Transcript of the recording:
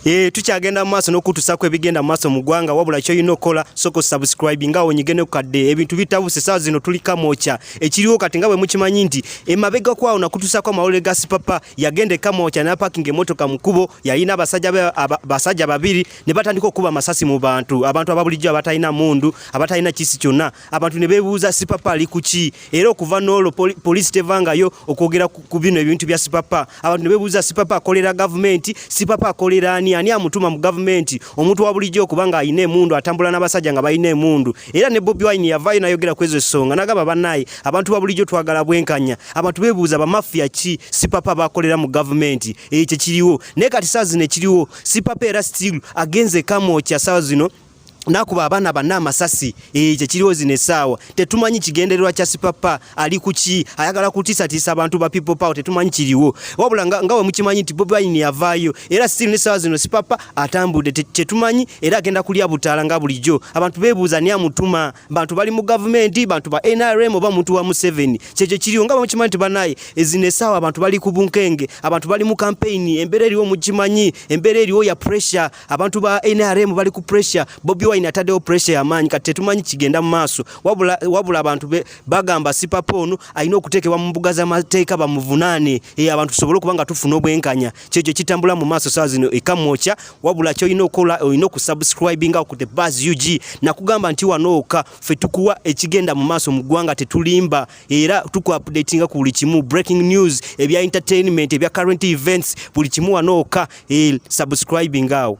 Eh, tukyagenda mu maaso n'okutuusaako ebigenda mu maaso mu ggwanga wabula kyolina okukola soko subscribe nga onyige ne kukadde ebintu bitabuse saa zino tuli kamwokya ekiriwo kati nga bwe mukimanyi nti emabega kwawo nakutuusaako amawulire ga sipapa yagenda ekamwokya napakinga emotoka mu kkubo yalina abasajja babiri ne batandika okukuba amasasi mu bantu abantu ababulijjo abatalina mundu abatalina kisi kyonna abantu ne beebuuza sipapa ali ku ki era okuva n'olwo poliisi tevangayo okwogera ku bino ebintu bya sipapa abantu ne beebuuza sipapa akolera gavumenti sipapa akolera ani ani amutuma mu gavumenti omuntu wa bulijjo okuba nga alina emundu atambula n'abasajja nga balina emundu era ne bobi wine yavaayo nayogera ku ezo ensonga nagamba banaye abantu ba bulijjo twagala bwenkanya abantu beebuuza bamafiya ki sipapa bakolera mu gavumenti ekyo kiriwo naye kati saa zino ekiriwo sipapa era still agenze kamokya saa zino nakuba abaana banna amasasi eh, kyekiriwo zino essaawa tetumanyi kigendererwa kya sipapa ali kuki ayagala kutiisatiisa abantu ba people power tetumanyi kiriwo wabula nga, nga wemukimanyi nti bobi wine yavaayo era still nessaawa zino sipapa atambudde kyetumanyi era agenda kulya butaala nga bulijjo abantu bebuuza ni amutuma bantu bali mu gavumenti bantu ba nrm oba muntu wa museveni kyekyo kiriwo nga wemukimanyi nti banaye eh, zino essaawa abantu bali ku bunkenge abantu bali mu kampeyini embeera eriwo mukimanyi embeera eriwo ya pressure abantu ba NRM bali ku pressure Bobi Wine atadewo pressure yamanyi kati tetumanyi kigenda mu maaso wabula, wabula abantu be, bagamba sipapa ono alina okuteekebwa mu mbuga z'amateeka bamuvunaane e, abantu tusobole okuba nga tufuna obwenkanya kyekyo kitambula mu maaso saa zino ekamwokya wabula kyolina okukola olina okusubscribinga ku the bas ug nakugamba nti wanooka fe tukuwa ekigenda mu maaso mu ggwanga tetulimba era tuku updatinga ku buli kimu breaking news ebya entertainment ebya current events buli kimu wanooka e, subscribing awo